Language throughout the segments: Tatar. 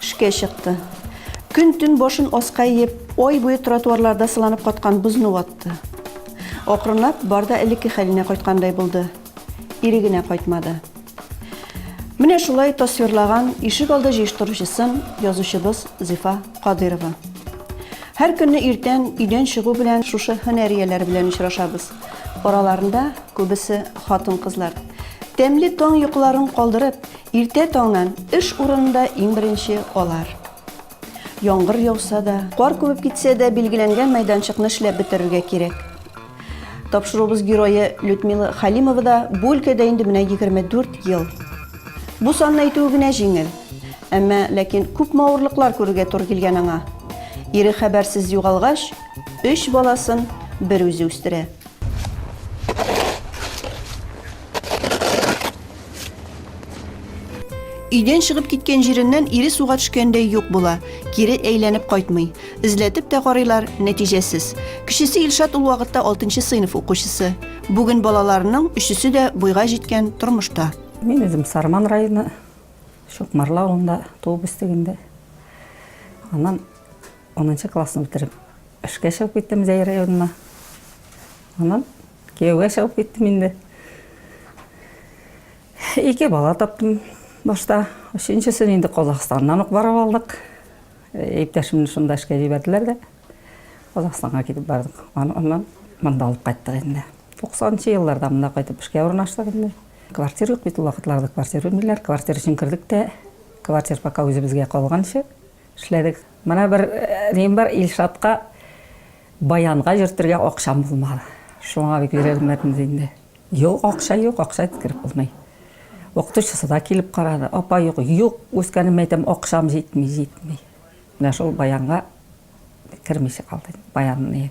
Эшкә чыкты. Көн-төн башын аска иеп, ай буе тротуарларда сыланып каткан бозны ватты. Акрынлап бар да элекке хәленә кайткандай булды. Ире генә кайтмады. Менә шулай тасвирлаган ишек алды җыештыручысын язучыбыз Зифа Кадыйрова. Һәр көнне иртән өйдән чыгу белән шушы һөнәрияләр белән очрашабыз. Араларында күбесе хатын-кызлар. Тәмле таң йокыларын калдырып, Иртә таңнан эш урынында иң беренче алар. Яңгыр яуса да, кар күбеп китсә дә, билгеләнгән мәйданчыкны эшләп бетерергә кирәк. Тапшыруыбыз герое Людмила Халимова да бу өлкәдә инде менә 24 ел. Бу санны әйтүе генә җиңел. Әмма ләкин күпме авырлыклар күрергә туры килгән аңа. Ире хәбәрсез югалгач, өч баласын берүзе үстерә. Өйдән чыгып киткән җиреннән ире суга төшкәндәй юк була. Кире әйләнеп кайтмый. Эзләтеп тә карыйлар, нәтиҗәсез. Кечесе Илшат ул вакытта 6 сыйныф укучысы. Бүген балаларының өчесе дә буйга җиткән тормышта. Мин үзем Сарман районы Шукмарла авылында туып үстегендә. Аннан 10 классны бетереп, Эшкә чыгып киттем Зәй районына. Аннан кияүгә чыгып киттем инде. Ике бала таптым башта. Өченчесен инде Казахстаннан ук барып алдык. Иптәшемне шунда эшкә җибәрделәр дә. Казахстанга китеп бардык. Аннан монда алып кайттык инде. 90 елларда монда кайтып эшкә урнаштык инде. Квартира юк бит ул вакытларда, квартира бирмиләр. Квартира өчен кердек тә, квартира пока үзебезгә калганчы, Эшләдек. Менә бер нем бар, Илшатка баянга йөртергә акчам булмады. Шуңа бик өйрәнмәдем дә инде. Юк, акча юк, акча иткереп булмый. Укытучысы да килеп карады. Апа, юк, юк, үскәнемә әйтәм, акчам җитми, җитми. Менә шул баянга кермичә калды инде, баянны.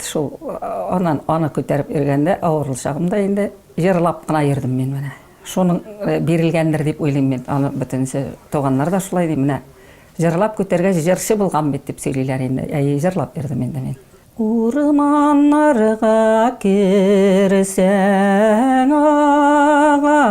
Шул аннан аны күтәреп йөргәндә, авырыл чагымда инде җырлап кына йөрдем мин менә. Шуның э, бирелгәндер дип уйлыйм мин. Аны бөтенесе туганнар да шулай ди, менә җырлап күтәргәч җырчы булган бит дип сөйлиләр инде. Әйе, җырлап йөрдем инде мин. Урманнарга керсәң агачларның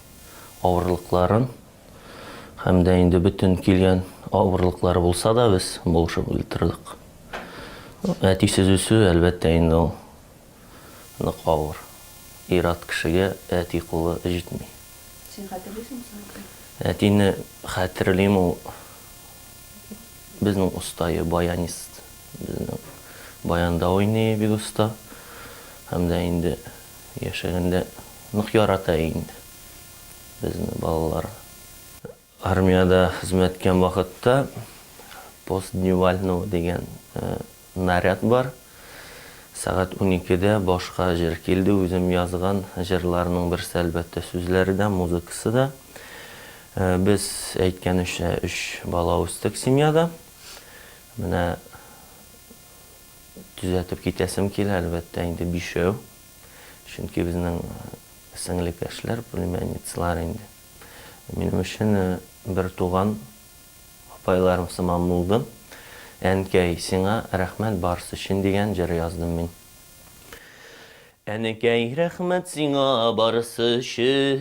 авырлыкларын һәм дә инде бөтен килгән авырлыклары булса да без булышып утырдык. Әтисез үсү, әлбәттә, инде ул нык авыр. Ир-ат кешегә әти кулы җитми. Син хәтерлисеңме соң әтине? Әтине хәтерлим, ул безнең остае, баянист. Безнең баянда уйный бик оста. Һәм дә инде яшәгәндә Нык ярата инде безне балалар. Армиядә хезмәт иткән вакытта пост дневального дигән наряд бар. Сәгать уникедә башка җыр килде, үзем язган җырларның берсе, әлбәттә, сүзләре дә, музыкасы да. Без әйткәнемчә өч бала үстек семьяда. Менә төзәтеп китәсем килә, әлбәттә, инде бишәү. Чөнки безнең сеңлекәшләр, племянницалар инде. Минем өчен бертуган апайларым сыман булды. Әнкәй, сиңа рәхмәт барысы өчен дигән җыр яздым мин. Әнекәй, рәхмәт сиңа барысы өчен,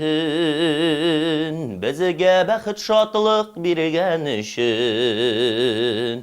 Безгә бәхет-шатлык биргән өчен.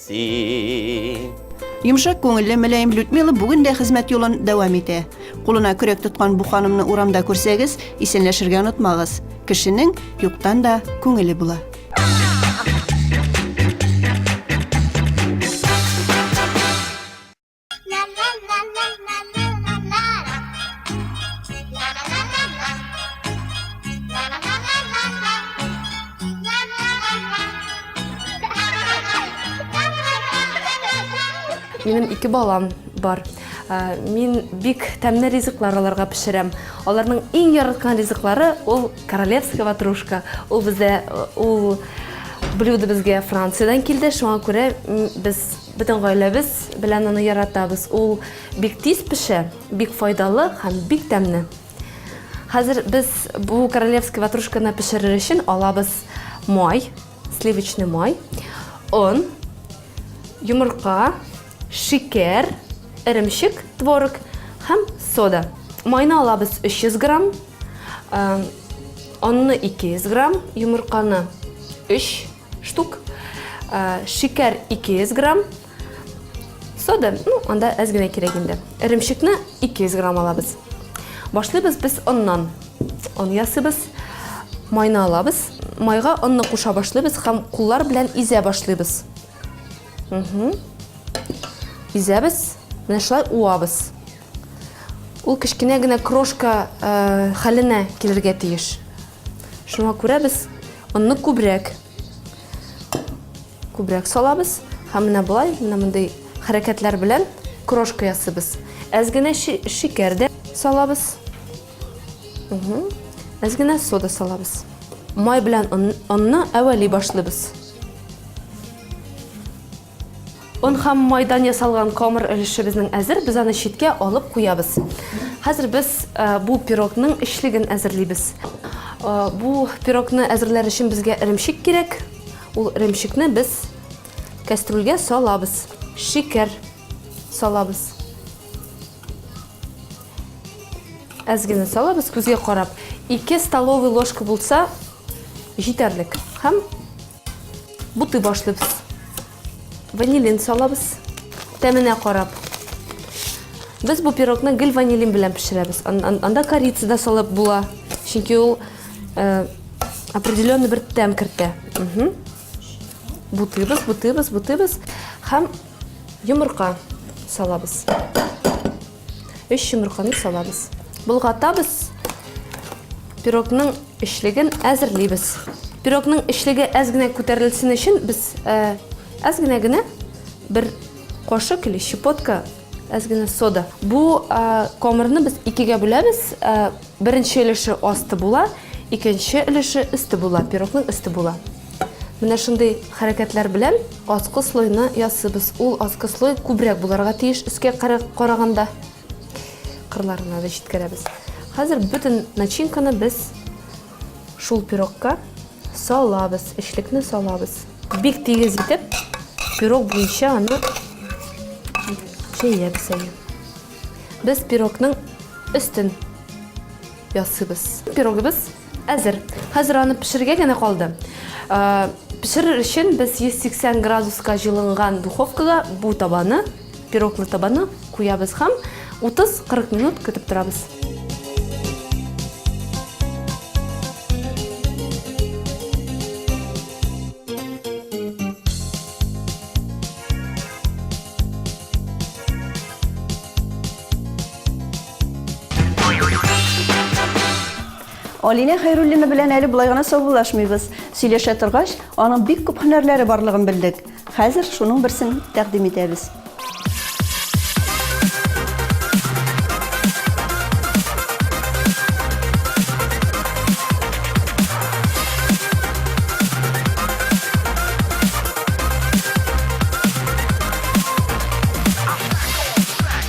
Син. Йомшак күңелле Мөләем Людмила бүген дә хезмәт юлын дәвам итә. Кулына көрәк тоткан бу ханымны урамда күрсәгез, исәнләшергә онытмагыз. Кешенең юктан да күңеле була. Минем ике балам бар. Ә, мин бик тәмле ризыклар аларга пешерәм. Аларның иң яраткан ризыклары ул королевская ватрушка. Ул бездә ул блюдо безгә Франциядән килде, шуңа күрә без Бөтен гаиләбез белән аны яратабыз. Ул бик тиз пешә, бик файдалы һәм бик тәмле. Хәзер без бу королевский ватрушканы пешерер өчен алабыз май, сливочный май, он, йомырка, шикәр, эремчек, творог һәм сода. Майны алабыз 300 грамм, онны 200 грамм, йомырканы 3 штук, шикәр 200 грамм, сода, ну, анда әз генә кирәк инде. Эремчекне 200 грамм алабыз. Башлыйбыз без оннан. Он ясыйбыз, майны алабыз. Майга онны куша башлыйбыз һәм куллар белән изә башлыйбыз. Угу. Изәбез, менә шулай уабыз. Ул кечкенә генә крошка э, хәленә килергә тиеш. Шуңа күрә без онны күбрәк күбрәк салабыз һәм менә болай менә мондый хәрәкәтләр белән крошка ясыйбыз. Әз генә шикәр дә салабыз. Әз генә сода салабыз. Май белән онны әвәли башлыйбыз. Он һәм майдан ясалган камыр өлешебезнең әзер, без аны читкә алып куябыз. Хәзер без э, бу пирогның эчлеген әзерлибез. Э, бу пирогны әзерләр өчен безгә эремчек кирәк. Ул эремчекне без кәстрүлгә салабыз. Шикәр салабыз. Әз генә салабыз күзгә карап. 2 столовый ложка булса җитәрлек. Һәм Бутый башлыйбыз. Ванилин салабыз. Тәменә карап. Без бу пирогны гел ванилин белән пешерәбез. Анда корица да салып була. Чөнки ул э, определенный бер тәм кертә. Бутыйбыз, бутыйбыз, бутыйбыз һәм йомырка салабыз. 3 йомырканы салабыз. Болгатабыз. Пирогның эчлеген әзерлибез. Пирогның эчлеге әз генә күтәрелсен өчен без э, әз генә генә бер кошык или щепотка әз генә сода. Бу э, комырны без икегә бүләбез. Э, беренче өлеше асты була, икенче өлеше өсте була, пирогның өсте була. Менә шундый хәрәкәтләр белән аскы слойны ясыйбыз. Ул аскы слой күбрәк буларга тиеш өскә караганда. Кырларына да җиткерәбез. Хәзер бөтен начинканы без шул пирогка салабыз, эчлекне салабыз. Бик тигез итеп пирог буенча аны җәябез әле. Без пирогның өстен ясыйбыз. Пирогыбыз Әзер. Хәзер аны пешерергә генә калды. Пешерер өчен без 180 градуска җылынган духовкага бу табаны, пироглы табаны куябыз һәм 30-40 минут көтеп торабыз. Алинә Хәйруллина белән әле болай гына саубуллашмыйбыз. Сөйләшә торгач, аның бик күп һөнәрләре барлыгын белдек. Хәзер шуның берсен тәкъдим итәбез.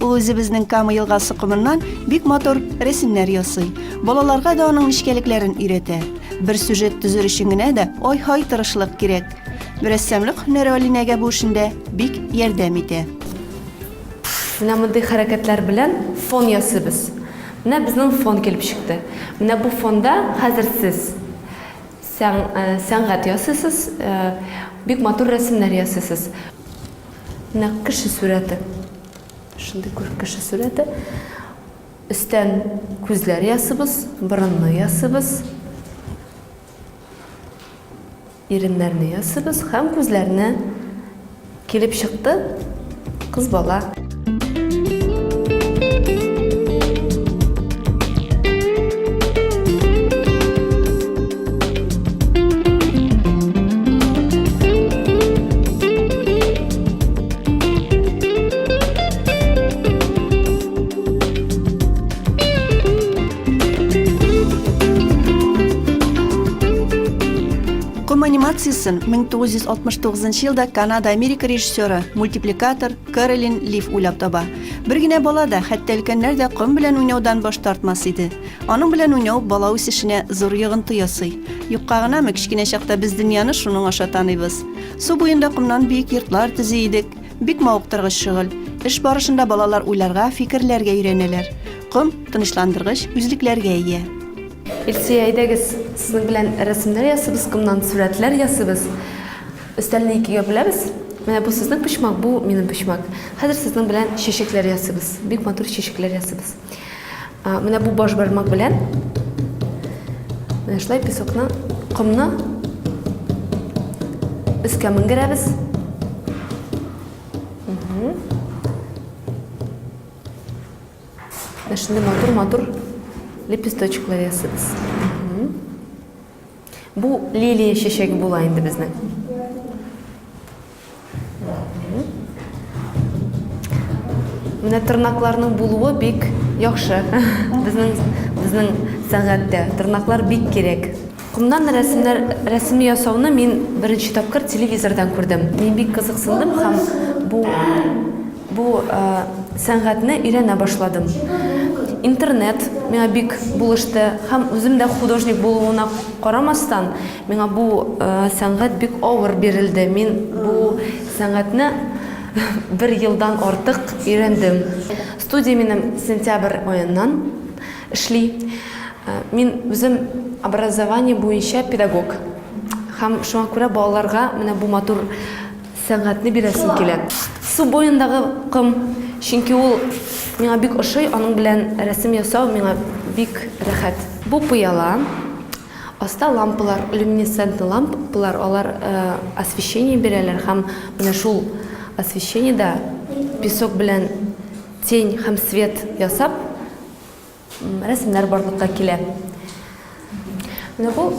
Ул үзебезнең Кама елгасы комыннан бик матур рәсемнәр ясый. Балаларга да аның нечкәлекләрен өйрәтә. Бер сюжет төзер өчен генә дә ай-һай тырышлык кирәк. Рәссамлык һөнәре Алинәгә бу эшендә бик ярдәм итә. Менә мондый хәрәкәтләр белән фон ясыйбыз. Менә безнең фон килеп чыкты. Менә бу фонда хәзер сез сәнгать ясыйсыз, бик матур рәсемнәр ясыйсыз. Менә кеше сурәте. Шундый күр кеше сурәте. Өстән күзләр ясыбыз, борынны ясыбыз. Иреннәрне ясыбыз һәм күзләрне килеп чыкты кыз бала. Джексон 1969 елда Канада-Америка режиссеры, мультипликатор Каролин Лив уйлап таба. Бер генә бала да, хәтта өлкәннәр дә ком белән уйнаудан баш тартмас иде. Аның белән уйнау бала үсешенә зур йогынты ясый. Юкка гынамы, кечкенә чакта без дөньяны шуның аша таныйбыз. Су буенда комнан биек йортлар төзи идек. Бик мавыктыргыч шөгыль. Эш барышында балалар уйларга, фикерләргә өйрәнәләр. Ком, тынычландыргыч, үзлекләргә ия. Илсөя, әйдәгез, сезнең белән рәсемнәр ясыйбыз, комнан сурәтләр ясыйбыз. Өстәлне икегә бүләбез. Менә бу сезнең почмак, бу минем почмак. Хәзер сезнең белән чәчәкләр ясыйбыз. Бик матур чәчәкләр ясыйбыз. Менә бу баш бармак белән менә шулай песокны, комны өскә менгерәбез. Менә шундый матур-матур лепесточклар ясыйбыз. Бу лилия чәчәге була инде безнең. Менә тырнакларның булуы бик яхшы. Безнең безнең сәнгатьтә тырнаклар бик кирәк. Кумнан рәсемнәр рәсеме ясауны мин беренче тапкыр телевизордан күрдем. Мин бик кызыксындым һәм бу бу э, сәнгатьне өйрәнә башладым. Интернет миңа бик булышты һәм үзем дә художник булуына карамастан, Миңа бу сәнгать бик авыр бирелде. Мин бу сәнгатьне бер елдан артык өйрәндем. Студия минем сентябрь аеннан эшли. Мин үзем образование буенча педагог. Һәм шуңа күрә балаларга менә бу матур сәнгатьне бирәсем килә. Су буендагы ком, чөнки ул миңа бик ошый, аның белән рәсем ясау миңа бик рәхәт. Бу пыяла. Аста лампалар, люминесцентный ламп палар, алар освещение бирәләр һәм менә шул освещение да песок белән тень һәм свет ясап рәсемнәр барлыкка килә. Менә бу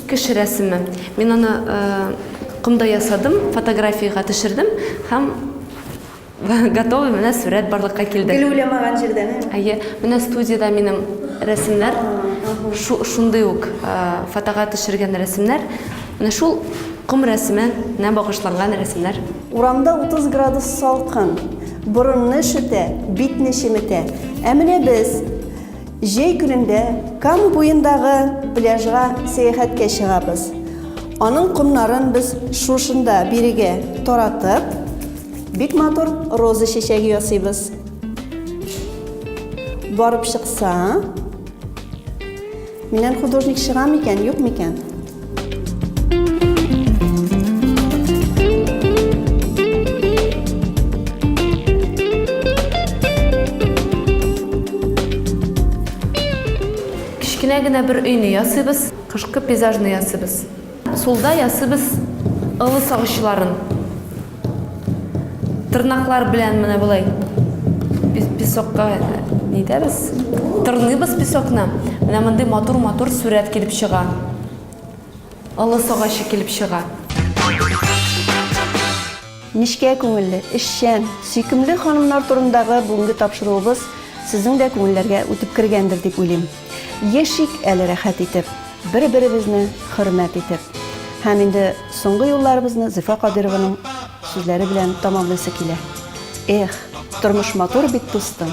кеше рәсеме. Мин аны комда ясадым, фотографиягә төшердем һәм Готовый, менә сурәт барлыкка килде. Гел уйламаган җирдән. Әйе, менә студиядә минем рәсемнәр. Шундый ук фотога төшергән рәсемнәр. Менә шул ком рәсеменә багышланган рәсемнәр. Урамда 30 градус салкын. Борынны өшетә, битне чеметә. Ә менә без җәй көнендә Кама буендагы пляжга сәяхәткә чыгабыз. Аның комнарын без шушында бирегә таратып. Бик матур роза чәчәге ясыйбыз. Барып чыкса, миннән художник чыга микән, юк микән? Кечкенә генә бер өйне ясыйбыз, кышкы пейзажны ясыйбыз. Сулда ясыбыз ылы сагычларын. Тырнаклар белән менә болай песокка нитәбез. Тырныйбыз песокны. Менә мондый матур-матур сурәт килеп чыга. Ылы сагачы килеп чыга. Нечкә күңелле, эшчән, сөйкемле ханымнар турындагы бүгенге тапшыруыбыз сезнең дә күңелләргә үтеп кергәндер дип уйлыйм. Яшик әле рәхәт итеп, бер-беребезне хөрмәт итеп. Һәм инде соңгы юлларыбызны Зифа Кадыйрованың сүзләре белән тәмамлыйсы килә. Эх, тормыш матур бит, дустым.